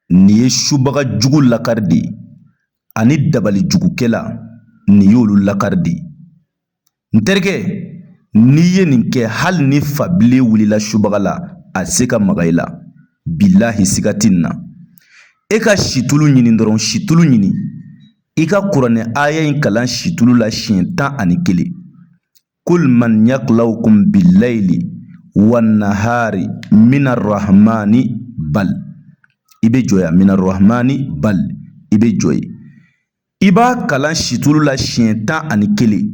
nin ye subaga jugu lakari de ye ani dabali jugukɛla nin y'olu lakari de ye n terikɛ n'i ye nin kɛ hali ni fabile wulila subaga la a se ka maga i la bilahi siga tɛ nin na e ka situlu ɲini dɔrɔn situlu ɲini i ka kuranɛ aya in kalan situlu la siɲɛ tan ani kelen kul man yaklawukum bilayili wa nahari mina rahmani bal i bɛ jɔ yan mina rahmani bal i bɛ jɔ yen i b'a kalan situlu la siɲɛ tan ani kelen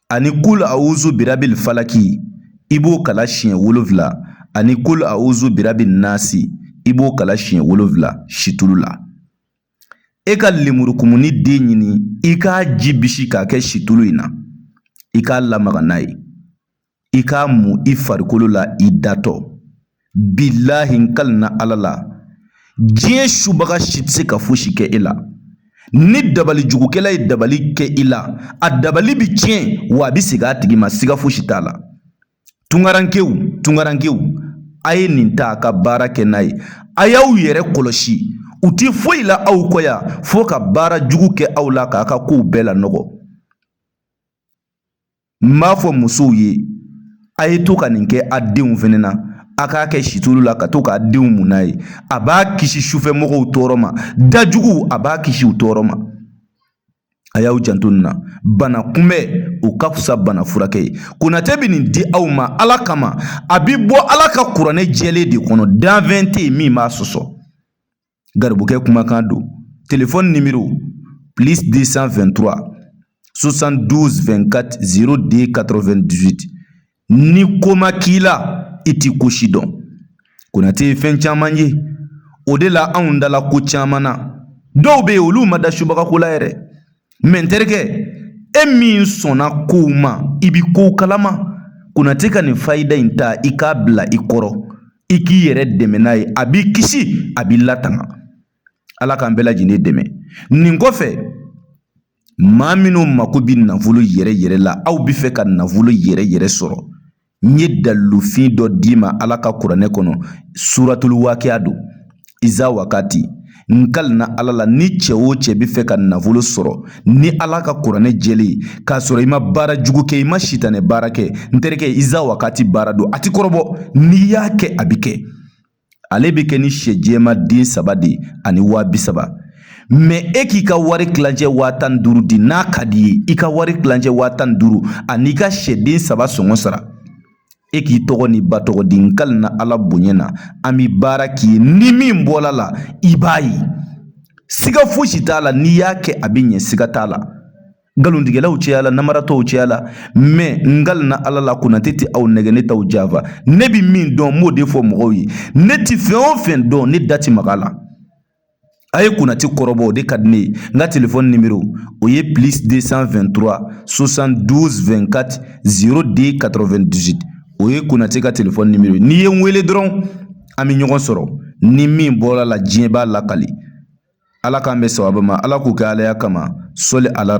ani kul awuzu birabil falaki i b'o kalan siɲɛ wolonfila ani kul awuzu birabin nasi i b'o kalan siɲɛ wolonfila situlu la e ka lemurukumuni den ɲini i k'a ji bisi k'a kɛ situlu in na i k'a lamaga n'a ye i k'a mu i farikolo la i datɔ bilahi n kalina ala la diɲɛ subaga si tɛ se ka fosi kɛ e la ni dabali jugukɛla ye dabali kɛ i la a dabali bi tiɲɛ wa a bi segin a tigi ma siga fosi t'a la Tungarankew tungarankew a ye nin ta ka baara kɛ n'a ye a y'aw yɛrɛ kɔlɔsi u ti foyi la aw kɔ yan fo ka baara jugu kɛ aw la k'a ka kow bɛɛ lanɔgɔ n b'a fɔ musow ye a ye to ka nin kɛ a denw fɛnɛ na a k'a kɛ situlu la ka to k'a denw mun n'a ye a b'a kisi sufɛmɔgɔw tɔɔrɔ ma dajuguw a b'a kisi u tɔɔrɔ ma a y'aw janto nin na bana kunbɛn o ka fisa bana furakɛ ye konate bɛ nin di aw ma ala kama a bi bɔ ala ka kuranɛ jɛlen de kɔnɔ danfɛn tɛ yen min b'a sɔsɔ garibukɛ kumakan don telefɔni nimero plus 223 72 24 02 98 ni ko ma k'i la i ti ko si dɔn konate ye fɛn caman ye o de la anw dala ko caman na dɔw bɛ yen olu ma da subagako la yɛrɛ mɛ n terikɛ e min sɔnna kow ma i bi kow kalama konate ka nin fayida in ta i k'a bila i kɔrɔ i k'i yɛrɛ dɛmɛ n'a ye a b'i kisi a b'i latanga ala k'an bɛɛ lajɛlen dɛmɛ nin kɔfɛ maa minnu mako bɛ nafolo yɛrɛ yɛrɛ la aw bɛ fɛ ka nafolo yɛrɛ yɛrɛ sɔrɔ n ye dalilufin dɔ d'i ma ala ka kuranɛ kɔnɔ suratulu wakiya don iza wakati n kalina ala la ni cɛ o cɛ bɛ fɛ ka nafolo sɔrɔ ni ala ka kuranɛ jɛlen k'a sɔrɔ i ma baara jugu kɛ i ma sitanɛ baara kɛ n terikɛ iza wakati baara don a ti kɔrɔbɔ n'i y'a kɛ a bɛ kɛ ale bɛ kɛ ni sɛ jɛma den saba de ani waa bi saba mɛ e k'i ka wari kilancɛ waa tan ni duuru di n'a ka d'i ye i ka wari kilancɛ waa tan ni duuru an'i ka sɛden saba sɔngɔ sara e k'i tɔgɔ n'i ba tɔgɔ di n kalina ala bonya na an bi baara k'i ye ni min bɔl'a la i b'a ye siga fosi t'a la n'i y'a kɛ a bɛ ɲɛ siga t'a la nkalontigɛlaw cɛyala namaratɔw cɛyala mɛ n kalina ala la konate tɛ aw nɛgɛ ne t'aw janfa ne bɛ min dɔn n b'o de fɔ mɔgɔw ye ne tɛ fɛn o fɛn dɔn ne da tɛ mag'a la a ye konate kɔrɔbɔ o de ka di ne ye n ka telefɔni nimero o ye plus 223 72 24 02 98 o ye konate ka telefɔni nimero ye n'i ye n wele dɔrɔn an bɛ ɲɔgɔn sɔrɔ ni min bɔr'a la diɲɛ b'a lakali ala k'an bɛn sababu ma ala k'o kɛ alaya kama sɔli ala